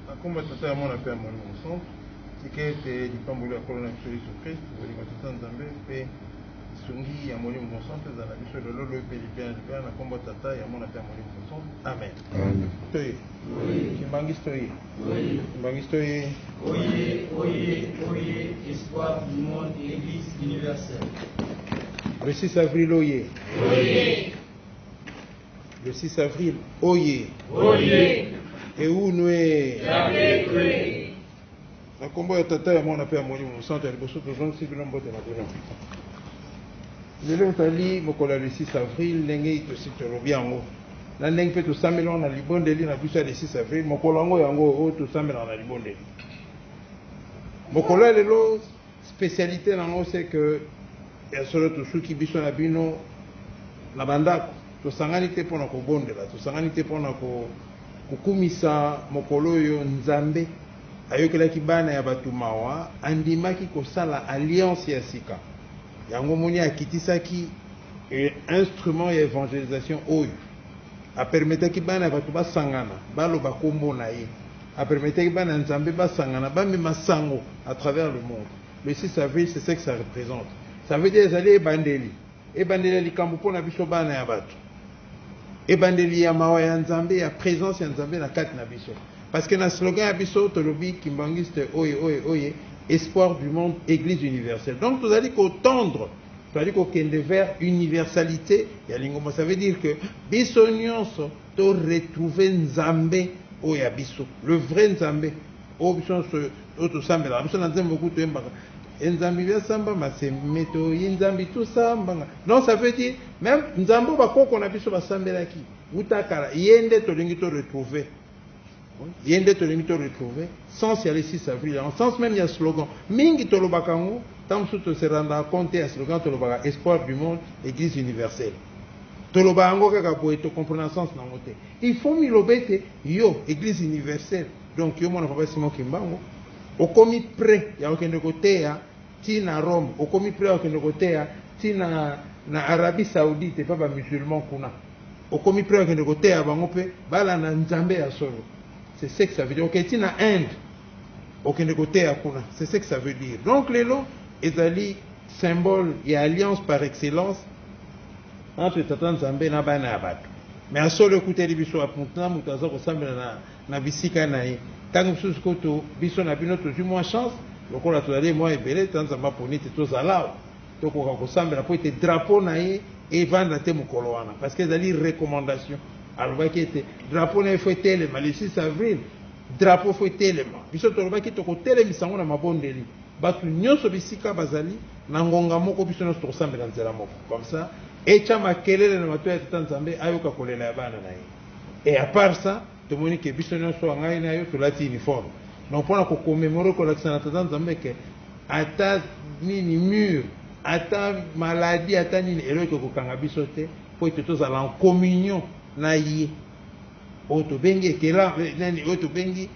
Na nkombo ya Tata, ya Mwana, mpe ya Molimo Mosantu, tika ete lipamboli ya Nkolo na biso Yesu Kristu, bolingo ya Tata Nzambe, mpe lisungi ya Molimo Mosantu ezala na biso lelo, lobi, mpe libela na libela, na nkombo ya Tata, ya Mwana, mpe ya Molimo Mosantu. Amen. Toye Kimbanguiste oye! Kimbanguiste oye! Oye, oye, oye, espoir du monde, eglise universelle. Le 6 avril oye! Oye! Le 6 avril, oye. Oye. Eunwe. Yabekwe. Na kombo ya tata ya mwana mpe ya molimo mosanto ya liboso tozongisi bino mbote na bino. Lelo ezali mokolo ya le 6 avril ndenge tosi tolobi yango na ndenge mpe tosambelaka na libondeli na biso ya le 6 avril mokolo yango yango oyo tosambelaka na libondeli mokolo ya lelo Specialite na ngo c'est que ya solo tosuki biso na bino na bandako tosangani te mpo na kobondela tosangani te mpo na kokumisa mokolo oyo nzambe ayokelaki bana ya bato mawa andimaki kosala alliance ya sika yango moni akitisaki e, instrument ya evangelisation oyo apermetaki bana ya bato basangana baloba nkombo na ye A permetaki bana Nzambe basangana, bamema sango à travers le monde. Le 6 avril, c'est ce que ça represente. Ça veut dire ezali ebandeli, ebandeli ya likambo mpo na biso bana ya bato, ebandeli ya mawa ya Nzambe, ya présence ya Nzambe na kati na biso. Parce que na slogan ya biso tolobi kimbanguiste oye oye oye, espoir du monde, église universelle. Donc tozali kotendre tozali kokende vers universalité ya lingomba ça veut dire que biso nyonso To retrouver Nzambe oyo ya biso, le vrai Nzambe oyo biso nyonso oyo tosambelaka biso na nzembo kutu toyembaka enzambi bia samba maseme toyi nzambi tosambanga donc ça veut dire même nzambe oyo bakoko na biso basambelaki uta kala ye nde tolingi to retrouver ye nde tolingi to retrouver sens ya le 6 avril en sens même ya slogan mingi tolobaka yango ntango mosusu tose rendre compte ya slogan tolobaka espoir du monde église universelle toloba yango kaka boye tocomprena sens na yango te il faut miloba ete yo église universelle donc yo mwana papa simon kimbango okomi près ya kokende koteya ti na rome okomi près ya kokende koteya ti na, na arabie saoudite mpe bamusulman kuna okomi pre okende koteya bango mpe balanda nzambe ya solo c'est ce que ça veut dire okei okay, na inde okende koteya kuna c'est ce que ça veut dire donc lelo ezali symbole ya alliance par excellence entre tata nzambe na bana ya bato me ya solo ekuteli biso aputna moto aza kosambela na, na bisika na ye ntango mosusu koto biso na bino tozwi mwa chance lokola tozali mwa ebele ta nzambe aponi te tozala tokoka kosambela mpo ete drapo na ye evanda te mokolo wana parce que ezali recommandation alobaki ete drapo na ye fo etelema le 6 avril drapo fo etelema biso tolobaki tokotelemisa yango na mabondeli bato nyonso bisika bazali na ngonga moko biso nyonso tokosambela nzela moko comme ça etya makelele na bato ya tata nzambe ayoka kolela ya bana na ye e apart ça Tomoni ke biso nionso wa ngai na yo tolati uniforme. Donc pona ko commemorer kolakisa na tata Nzambe ke ata nini mur, ata maladie, ata nini eloko ekokanga biso te po ete tozala en communion na ye. Oyo tobengi ekela nani oyo tobengi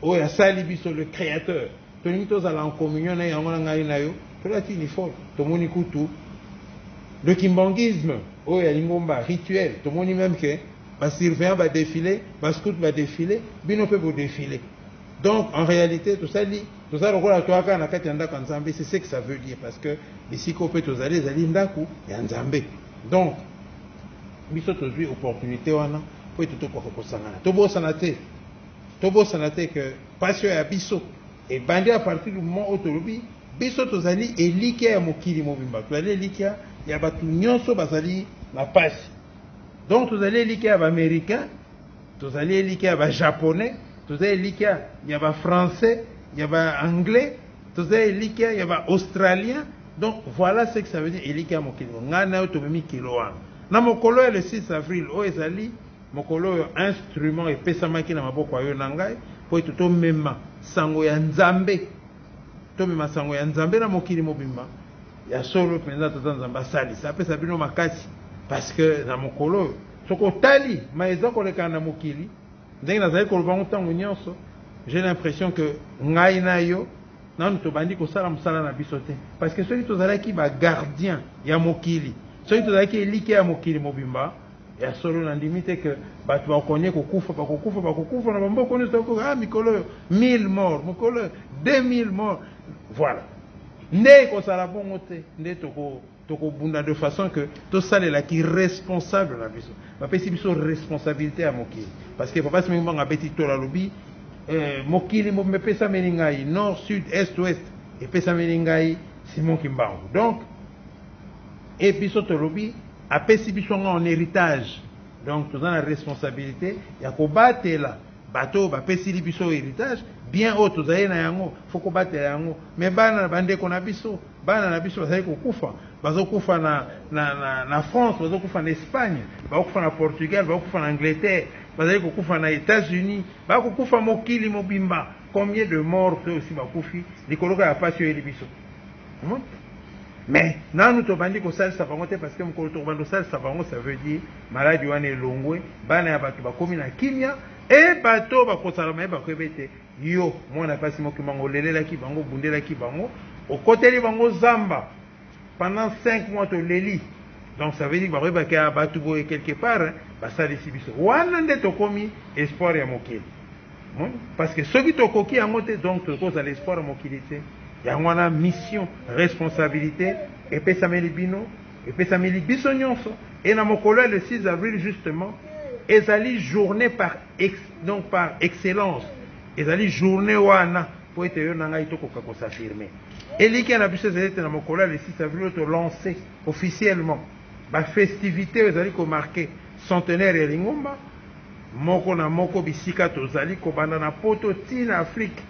oyo asali biso le créateur. Tolingi tozala en communion na yango na ngai na yo tolati uniforme. Tomoni kutu le kimbanguisme oyo ya lingomba rituel tomoni meme ke ba surveillant ba defile ba scout ba defile bino mpe bo defile donc en réalité tosali toza lokola toa kaka na kati ya ndako ya nzambe c'est ce que ça veut dire parce que bisika oyo mpe tozali ezali ndako ya nzambe donc biso tozwi opportunité wana mpo ete tokoka kosangana tobosana te tobosana te ke mpasi oyo ya biso ebandi a partir du moment oyo tolobi biso tozali elikya ya mokili mobimba tozali elikya ya bato nyonso bazali na mpasi Donc tozali elikya ya b'americain, tozali elikya ya b'japonais, tozali elikya ya b'français, ya b'anglais, tozali elikya ya b'australien. Donc voilà ce que ça veut dire elikya ya mokili moko. Ngai na yo tomemi kilo wana. Na mokolo ya le 6 avril oyo ezali mokolo oyo instrument epesamaki na maboko ya yo na ngai mpo ete tomema sango ya Nzambe, tomema sango ya Nzambe na mokili mobimba. Ya solo penza tata nzambe asalisa apesa bino makasi parceque na mokolo oyo soki otali ma eza kolekana na mokili ndenge nazali koloba yango ntango nyonso j'ai l'impression que ngai na yo nanu tobandi kosala mosala na biso te parceque soki tozalaki bagardien ya mokili soki tozalaki elike ya mokili mobimba Ya solo na ndimi te que batu bakonie kokufa bakokufa bakokufa na bamboko nioso toko ah mikolo oyo 1000 morts mokolo oyo 2000 morts voilà nde ekozala bongo te nde toko tokobunda de façon que tosalela ki responsable na biso bapesi biso responsabilité ya mokili parce que papa simengi mbanga abeti tola alobi eh, mokili mobimba epesameli ngai nord sud est ouest epesameli ngai simon kimbangu donc Et biso tolobi apesi biso yango en heritage donc toza na responsabilité ya kobatela bato oyo bapesili biso heritage bien oyo tozali na yango fo kobatela yango me bana na bandeko na biso bana na biso bazali kokufa bazokufa na, na, na, na france bazokufa na espagne bakokufa na portugal bakokufa na angleterre bazali kokufa na états-unis bakokufa mokili mobimba combien de mort to osi bakufi likoloka ya mpasi oyeli biso Hein? Mais nanu tobandi kosalisa bango te parce que mokolo tokobanda kosalisa bango ça veut dire maladi wana elongwe, bana ya bato bakomi na kimia e bato oyo bakosala maye bakoyeba ete yo mwana mpasi moki bango olelelaki bango obundelaki bango okoteli bango zamba pendant 5 mois toleli donc ça veut dire bakoyebaki ya bato boye quelque part basalisi biso wana nde tokomi espoir ya mokili Omoni? Parce que soki tokoki yango te, donc tokoki kozala espoir ya mokili te. Yango wana mission, responsabilite epesameli bino, epesameli biso nyonso. Et na mokolo ya le 6 avril justement, ezali journée par ex, donc par excellence, ezali journée wana mpo ete yo na ngai tokoka kosafirme. Elikya na biso ezali ete na mokolo ya le 6 avril oyo tolancer officiellement Ba festivites oyo ezali ko marquer centenaire ya lingomba moko na moko bisika tozali, kobanda na poto tii na Afrique,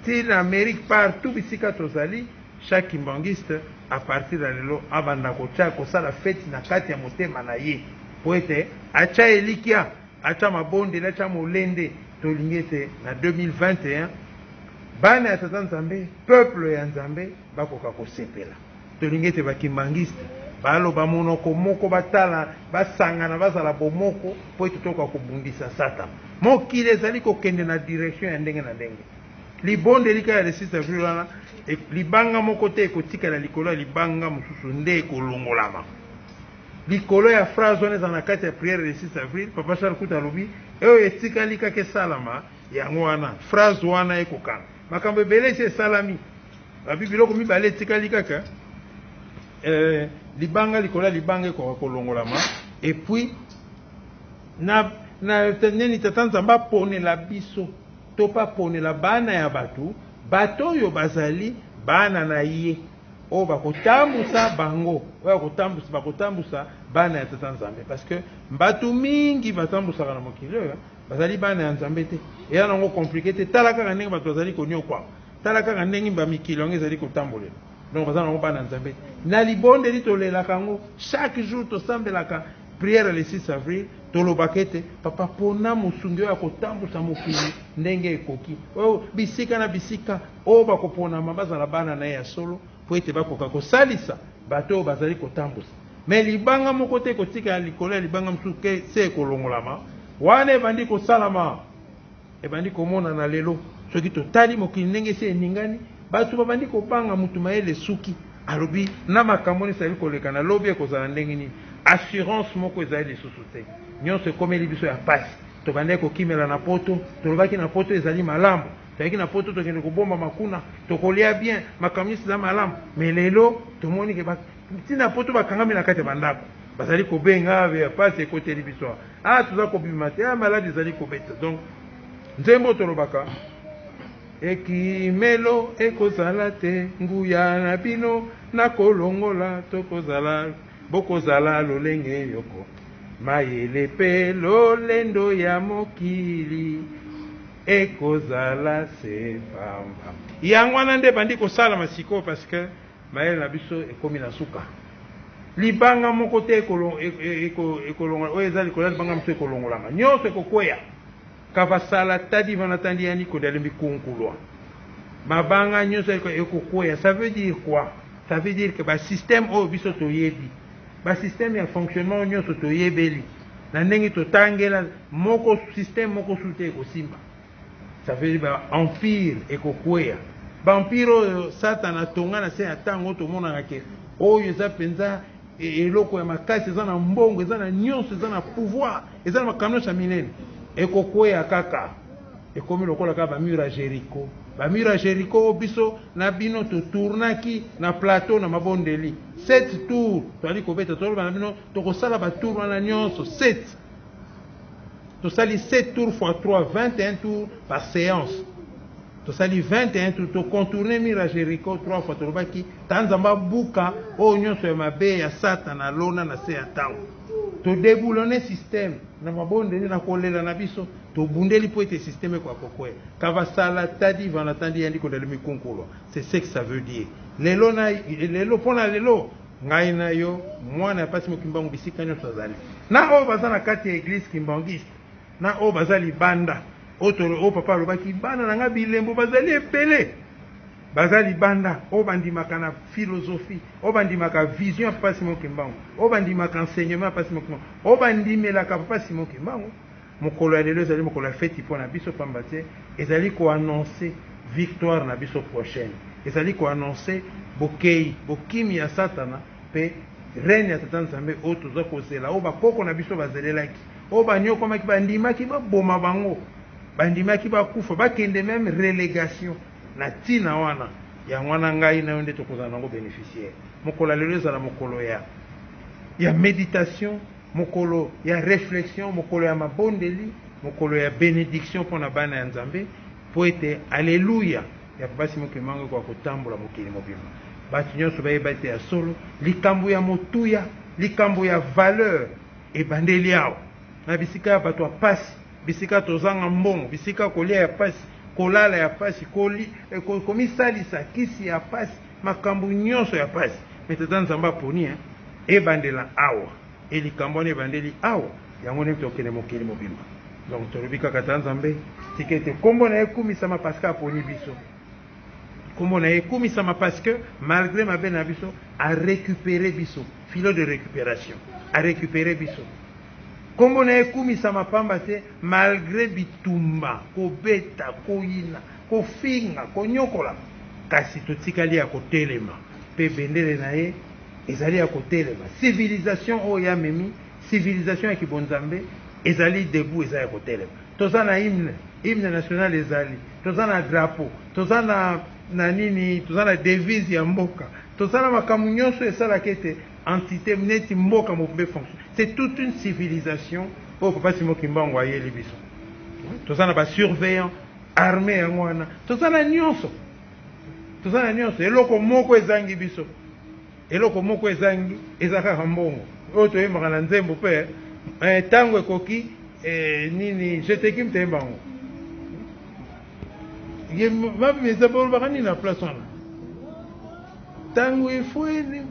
tii na Amerique, partout bisika tozali, chaque kimbanguiste à partir ya lelo abanda kotia, kosala feti na kati ya motema na ye mpo ete atia elikya, atia mabondeli, atia molende. Tolingi ete na 2021 bana ya Tata Nzambe, peuple ya Nzambe bakoka kosepela. Tolingi ete ba Kimbanguiste baloba monoko moko, batala, basangana, bazala bomoko mpo ete tokoka kobundisa Satana. Mokili ezali kokende na direction ya ndenge na ndenge. Libondeli kaka ya le 6 avril wana, e, libanga moko te ekotikala likolo ya libanga mosusu, nde ekolongolama likolo ya phrase wana ezala na kati ya prière le 6 avril. Papa Charles Kuta alobi oyo etikali kaka esalama, yango wana phrase wana ekokana makambo ebele esi esalami. Babi biloko mibale etikali kaka eh, libanga likolo ya libanga ekoka kolongolama epuis na, na nini tata nzambe aponela biso to mpe aponela bana ya bato bato oyo bazali bana na ye oyo bakotambusa bango oyo akotambusa bakotambusa bana ya tata nzambe parce que bato mingi batambusaka na mokili oyo bazali bana ya nzambe te eya nango komplike te tala kaka ndenge bato bazali konyokwama Tala kaka ndenge ba mikili yango ezali kotambolela. Donc baza nango bana Nzambe te. Na libondeli tolelaka yango chaque jour, tosambelaka prière le 6 avril, tolobaka ete papa pona mosungi oyo akotambusa mokili ndenge ekoki, oyo bisika na bisika oyo bakoponama bazala bana na ye ya solo, mpo ete bakoka kosalisa bato oyo bazali kotambusa. Me libanga moko te ekotikala likolo ya libanga mosusu ke se ekolongolama wana ebandi kosalama. Ebandi komonana lelo soki totali mokili ndenge esi eningani, bato babandi kobanga moto mayele esuki. Alobi na makambo oyo esali koleka na lobi ekozala ndenge nini, assurance moko ezali lisusu te. Nyonso ekomeli biso ya pasi. Tobandaki kokimela na poto, tolobaki na poto ezali malamu, toyaki na poto tokende kobombama kuna, tokolia bien, makambo nyonso eza malamu. Mais lelo tomoni ke ba ti na poto bakangami na kati ya bandako, bazali kobenga, ya pasi ekoteli biso awa. Ah toza kobima te ah, malade ezali kobeta donc nzembo oyo tolobaka ekimelo ekozala te nguya na bino nakolongola tokozala bokozala lolenge yoko mayele mpe lolendo ya mokili ekozala se pamba yango wana nde ebandi kosalama sikoyo parce que Mayele na biso ekomi na suka. Libanga moko te ekolongola oyo eza likolo ya libanga mosusu ekolongolama. Nyonso ekokweya. Kavasala tadi vana tandi yani kodali mikunkulwa. Mabanga nyonso ekokweya. Ça veut dire quoi? Ça veut dire que ba système oyo biso toyebi. Ba système ya fonctionnement oyo nyonso toyebeli. Na ndenge totangela moko système moko sute ekosimba. Ça veut dire ba empire ekokweya. Ba empire oyo Satana atonga na se ya ntango tomonaka ke oyo eza mpenza e, eloko ya makasi, eza na mbongo, eza na nyonso, eza na pouvoir, eza na makambo nyonso ya minene. Ekokweya kaka, ekomi lokola kaka bamure ya Jericho. Bamure ya Jericho oyo biso na bino totournaki na plateau na mabondeli sept tour, toali kobeta toloba na bino tokosala batour wana nyonso sept tosali 7 tour fois 3 21 tour par séance tosali 21 tour tocontourne mur ya jericho 3 fois tolobaki ta nzambe abuka oyo nyonso ya mabe ya satana alona na se ya ntango todeboulone systeme na mabondeli na kolela na biso tobundeli mpo ete systeme ekoya kokwea kavasala tadi vanatandi yandi kodali mikunkulwa c'est ce que ça veut dire lelo na lelo mpo na lelo Ngai na yo, mwana ya pasi mo Kimbangu bisika nionso azali. Na oyo baza na kati ya eglise kimbanguiste, na oyo baza libanda. Oyo to oyo papa alobaki bana na nga bilembo bazali ebele. Baza libanda, oyo bandimaka na philosophie, oyo bandimaka vision ya papa Simon Kimbangu, oyo bandimaka enseignement ya papa Simon Kimbangu, oyo bandimelaka papa Simon Kimbangu. Mokolo ya lelo ezali mokolo ya feti mpo na biso, pamba te ezali ko annoncer victoire na biso prochaine, ezali ko annoncer bokeyi, bokimi ya satana mpe règne ya Tata Nzambe oyo toza kozela, oyo ba koko na biso bazelelaki, oyo baniokwamaki, bandimaki baboma bango, bandimaki bakufa, bakende meme relegation na tina wana, yango wana ngai na yo nde tokozala na yango beneficiaire. Mokolo ya lelo ezala mokolo ya ya meditation. Mokolo ya reflexion, mokolo ya mabondeli, mokolo ya benediction mpo na bana ya Nzambe, mpo ete Alleluia ya Papa Simon Kimbangu ekoka kotambola mokili mobimba. Bato nyonso bayeba ete ya solo, likambo ya motuya, likambo ya valeur ebandeli awa, na bisika ya bato ya pasi, bisika tozanga mbongo, bisika kolia ya pasi, kolala ya pasi, eh, komisalisa, kisi ya pasi, Makambu nionso ya pasi mais tata nzambe aponi hein ebandela awa et likambu wana ebandeli awa yango nde tokende mokili mobimba donc tolobi kaka tata nzambe tika ete kombo naye ekumisama parce que aponi biso kombo naye ekumisama parce que malgre mabe na biso a recupere biso filet de recuperation a recupere biso kombo naye ekumisama pamba te malgre bitumba kobeta koyina kofinga, konyokola, kasi totikali ya kotelema, mpe bendele na ye ezali ya kotelema. Civilisation oyo ye amemi, civilisation ya kibonzambe, ezali debout, eza ya kotelema. Toza na hymne, hymne national ezali, toza na drapeau, toza na na nini, toza na devise ya mboka, toza na makambo nyonso esalaka ete entite neti mboka mobimba efonction. C'est toute une civilisation oyo Papa Simon Kimbangu ayeli biso. Toza na ba surveillants Armee yango wana toza na nionso toza na nionso eloko moko ezangi biso eloko moko ezangi eza kaka mbongo oyo toyembaka na nzembo pe eh, tango ekoki eh, nini jetekim toyemba yango ye mabe eza bolobaka nini na place wana tango efweni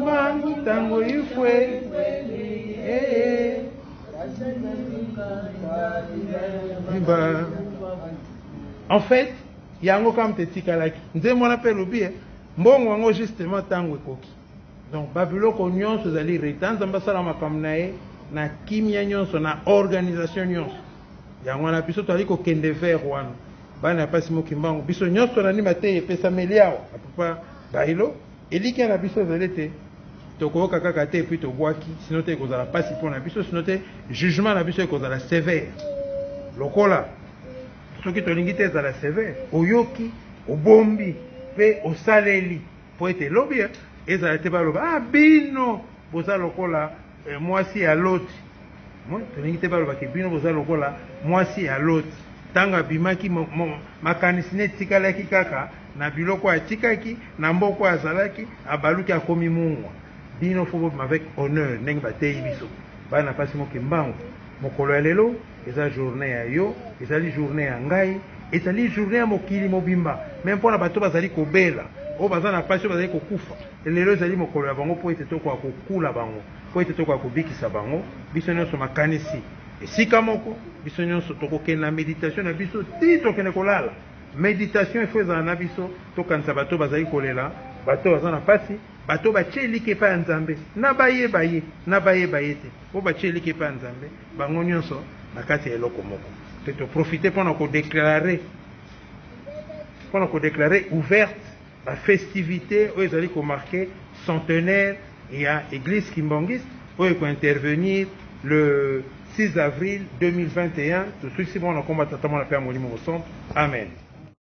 mangu tango efweni ee eh, eh. Viva. En fait, yango kama te tikalaki. Nzembo wana pe lobi eh, mbongo yango justement tango ekoki. Donc babiloko nyonso ezali reta Nzambe asala makambo na ye na kimia nyonso na organisation nyonso. Yango wana biso tozali kokende vers wana. Bana ya pasi mokimbango biso nyonso na nima te epesameli awa. Papa Bailo Elikya na biso ezali ete tokooka kaka te epuis tobwaki, sino te ekozala mpasi mpo na biso, sino te jugement na biso ekozala severe. Lokola soki tolingi te ezala severe, oyoki, obombi mpe osaleli mpo ete lobi ezala te baloba, ah bino boza lokola eh, mwasi ya Loti. Tolingi te baloba ke bino boza lokola mwasi ya Loti, tango abimaki, makanisi ne etikalaki kaka na biloko atikaki, na mboka oyo azalaki, abaluki akomi mungwa. Bino faut bobima avec honneur ndenge bateyi biso bana basi mo Kimbangu, mokolo ya lelo eza journee ya yo, ezali journee ya ngai, ezali journee ya mokili mobimba, meme pona bato bazali kobela, oyo baza na pasi, oyo bazali kokufa, lelo ezali mokolo ya bango po ete tokoka kokula bango. Mpo ete tokoka kobikisa bango, biso nyonso makanisi esika moko, biso nyonso tokokende na meditation na biso tii tokende kolala. Meditation il faut ezala na biso, tokanisa bato bazali kolela, bato baza na pasi, bato batie eliki epai ya Nzambe, na baye baye, na baye baye te, oyo batie eliki epai ya Nzambe, bango nyonso na kati ya eloko moko. Mpe to profiter mpo na ko declarer, mpo na ko declarer ouverte Ba festivites oyo ezali ko marquer centenaire ya eglise kimbanguiste oyo eko intervenir le 6 avril 2021, tosukisi bongo na kombo ya Tata, Mwana mpe ya Molimo Mosantu, amen.